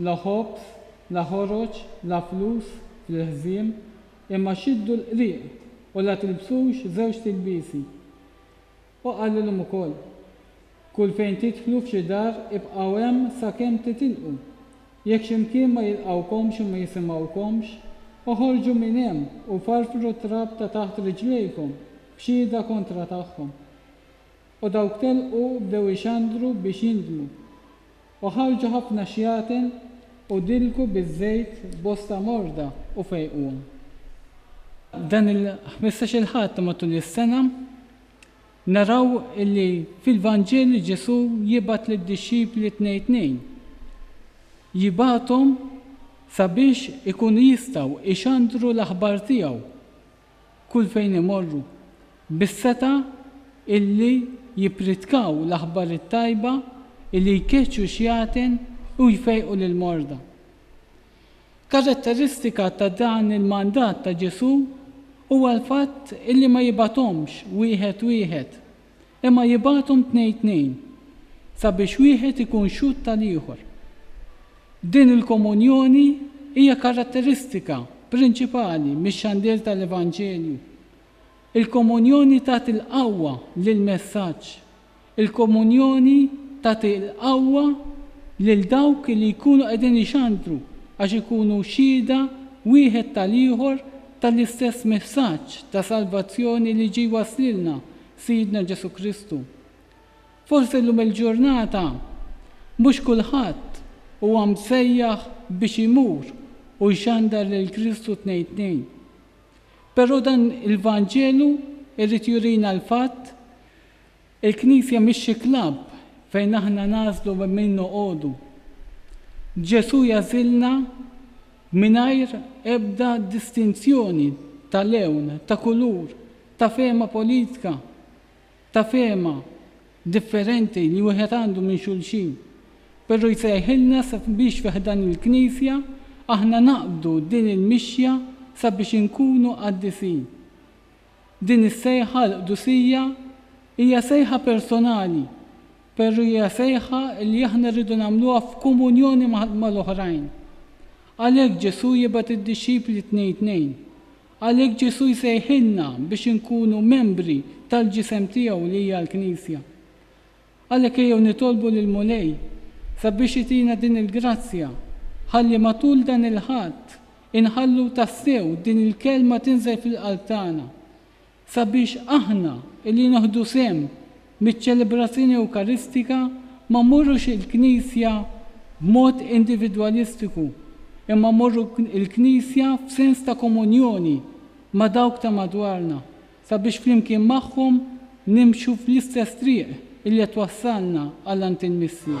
La ħobż, la ħoroġ, la flus fl-ilħżiem, imma xiddu l-qrieq u la tilbsux żewġt ilbiesi. U qalilhom ukoll, Kull fejn tidħlu f'xi dar, ibqgħu hemm sakemm titilqu. Jekk xi mkien ma jilqgħukomx u ma jisimgħukomx, oħorġu minn hemm u farfru t-trab ta' taħt riġlejkom b'xhieda kontra tagħhom. U dawk telqu bdew ixandru biex jindmu. U ħarrġu ħafna xjaten, u dilku biż-żejt bosta morda, u fejquhom. Dan il-ħmistax-il Ħadd matul is-sena, naraw li fil-Vanġelu Ġesù jibgħat lid-dixxipli tnej tnejn. Jibgħathom sabiex ikunu jistgħu jxandru l-aħbar tiegħu kull fejn imorru, bis-setgħa illi jippritkaw l-aħbar it-tajba, illi jkeċċu x-xjatin u jfejqu lill-morda. Karatteristika ta' dan il-mandat ta' Ġesù huwa l-fatt illi ma jibgħathomx wieħed wieħed, Imma jibgħathom tnejn tnejn, sabiex wieħed ikun xhud tal-ieħor. Din il-komunjoni hija karatteristika prinċipali mix-xandir tal-Evanġelju. Il-komunjoni tagħti l-qawwa lill-messaġġ. Il-komunjoni tagħti l-qawwa lil dawk li jkunu qegħdin ixandru għax ikunu xhieda wieħed tal-ieħor tal-istess messaġġ ta' salvazzjoni li ġie jwasslilna Sidna Ġesù Kristu. Forsi llum il-ġurnata mhux kulħadd huwa msejjaħ biex imur u jxandar lil Kristu tnejn tnejn. Però dan il-Vanġelu jrid jurina l-fatt il-Knisja mhix xi klabb fejn aħna nagħżlu ma' min noqogħdu. Ġesù jagħżilna mingħajr ebda distinzjoni ta' lewn, ta' kulur, ta' fehma politika, ta' fehma differenti li wieħed għandu minn xulxin, però jsejħilna sabiex fi ħdan il-Knisja aħna naqbdu din il-mixja sabiex inkunu qaddisin. Din is-sejħa għall-qdusija hija sejħa personali, però hija sejħa li aħna rridu nagħmluha f'komunjoni mal-oħrajn. Għalhekk Ġesù jibgħat id-dixxipli tnejn tnejn, Għalhekk Ġesù jsejħilna biex inkunu membri tal-ġisem tiegħu li hija l-Knisja. Għalhekk ejjew nitolbu lill-Mulej sabiex itina din il-grazzja ħalli matul dan il-Ħadd inħallu tassew din il-Kelma tinżel fil-qalb tagħna sabiex aħna li nieħdu sehem Miċ-ċelebrazzjoni Ewkaristika ma mmorrux il-Knisja b'mod individwalistiku, imma mmorru l-Knisja f'sens ta' komunjoni ma' dawk ta' madwarna, sabiex flimkien magħhom nimxu fl-istess triq illi qed twassalna għal għand il-Missier.